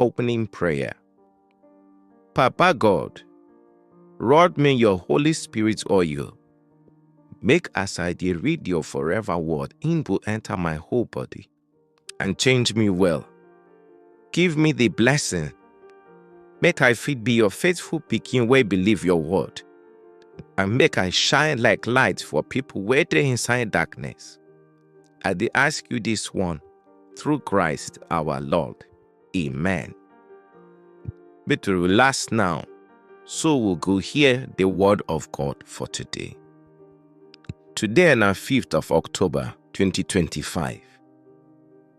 Opening Prayer Papa God, rod me your Holy Spirit oil. Make as I dey read your forever word, im go enter my whole body and change me well. Give me the blessing, make I fit be your faithful pikin wey believe your word, and make I shine like light for people wey dey inside darkness. I dey ask you this one through Christ our Lord. Amen. Make to relax now, so we go hear the word of God for today. Today na 5th of October 2025,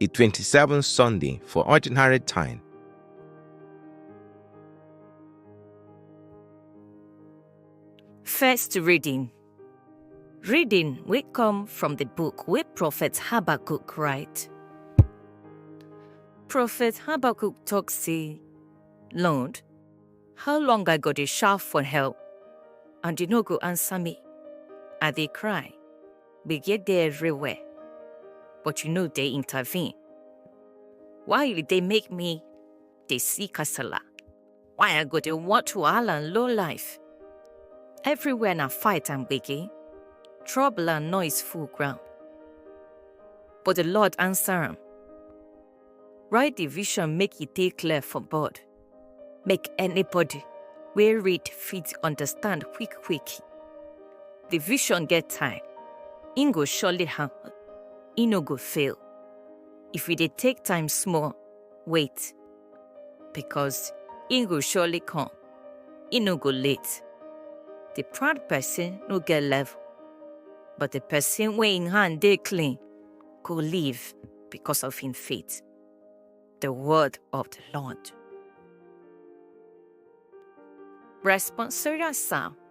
a 27th Sunday for ordinary time. First reading Reading will come from the book where Prophet Habakkuk write. Prophet Habakkuk talk say, Lord, how long I go to shout for help, and you no go answer me? I they cry, we get there everywhere, but you know they intervene. Why they make me dey see kasala. Why I go dey watch wahala and low life? Everywhere na fight and gbege, trouble and noise full ground. But the Lord answer am, Write the vision make e dey clear for board, make anybody wey read fit understand quick quick. The vision get time, e go surely happen, e no go fail. If we dey take time small, Wait, because he go surely come. He no go late. The proud person no get level, but the person wey im hand dey clean go live because of im faith. The word of the Lord. Responsorial Psalm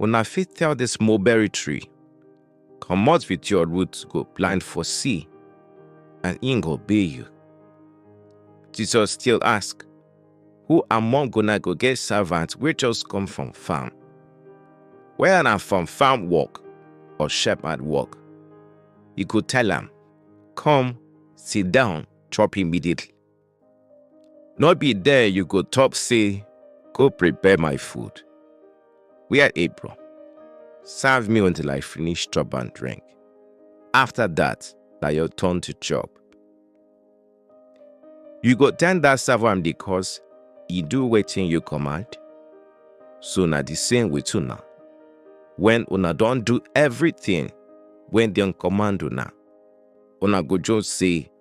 Una fit tell this mulberry tree, comot with your roots go plant for sea, and im go be you. Jesus still ask, Who among una go get servant wey just come from farm? Whether na from farm work or shepherd work, e go tell am, Come, sit down, chop immediately. No be there you go talk say, go prepare my food. Wear apron. Serve me until I finish chop and drink. After that, na your turn to chop. You go tell that server am the cause e do wetin you command? So na the same with una. When una don do everything when dem command una, una go just say,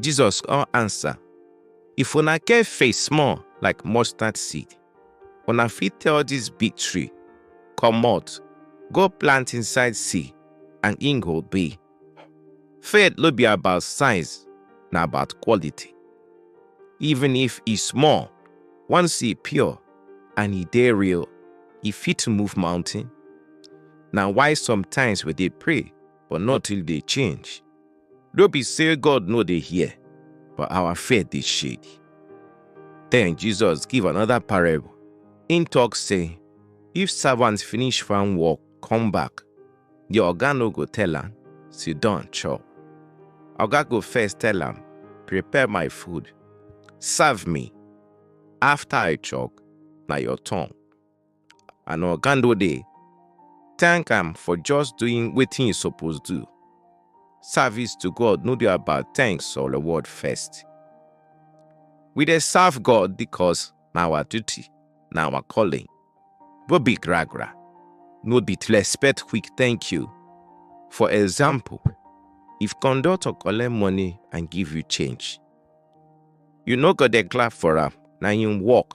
Jesus come answer, If una get faith small like mustard seed, una fit tell this big tree, Comot, go plant inside sea, and im go be. Faith no be about size, na about quality. Even if e small, once e pure and e dey real, e fit move mountain. Na why sometimes we dey pray but nothing dey change. No be say God no dey hear, but our faith dey shake. Then Jesus give another parable. Him talk say, if servant finish farm work, come back, the oga no go tell am, sit down chop. Oga go first tell am, prepare my food, serve me. After I chop, na your turn. and oga no dey thank am for just doing wetin e suppose do service to god no dey about thanks or reward first we dey serve god because na our duty na our calling no be gragra no be to expect quick thank you for example if conductor collect money and give you change you no go dey clap for am na him work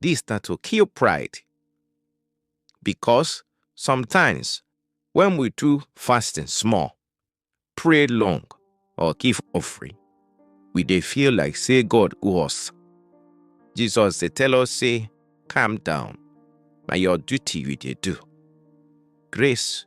Dis na to kill pride because sometimes when we do fasting small, pray long or give offering, we dey feel like say God owe us. Jesus dey tell us say calm down, na your duty you dey do. Grace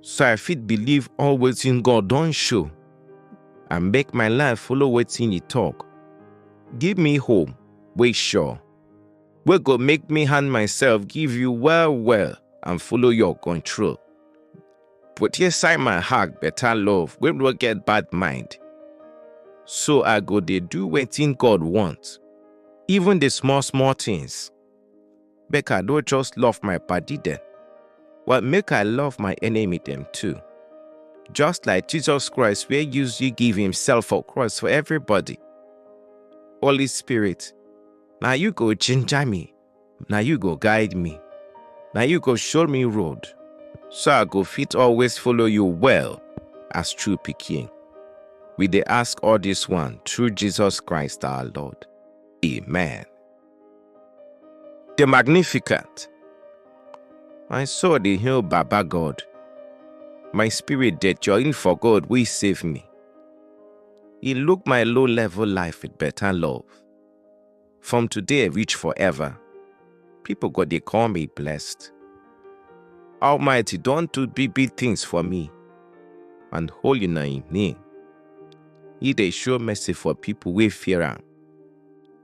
so I fit believe all wetin God don show and make my life follow wetin e talk. Give me hope wey sure, wey go make me hand myself give you well well and follow your control. Put inside my heart better love wey no get bad mind. So I go dey do wetin God want, even the small small things. Make I no just love my body then, but make I love my enemy them too. Just like Jesus Christ wey use you give himself for cross for everybody. Holy Spirit, na you go ginger me, na you go guide me, na you go show me road, so I go fit always follow you well as true pikin. We dey ask all this one through Jesus Christ our Lord. Amen. The Magnificent. My soul dey hail Baba God. My spirit dey join for God wey save me. He look my low level life with better love. From today reach forever, people go dey call me blessed. Almighty don do big big things for me, and holy na him name. He dey show mercy for people wey fear am.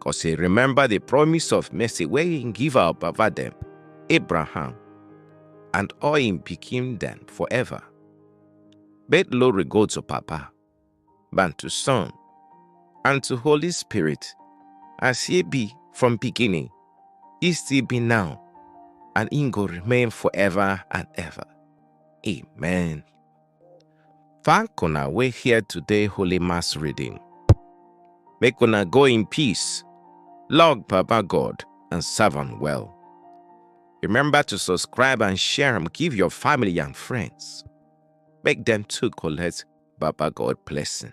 Cause he remember the promise of mercy where he give our Baba them, Abraham, and all him became them forever. But glory go to Papa, and to Son, and to Holy Spirit, as he be from beginning, he still be now, and he go remain forever and ever. Amen. Thank una wey hear today Holy Mass reading. Make una go in peace, log Baba God and serve am well. Remember to subscribe and share am give your family and friends. Make dem too collect Baba God blessing.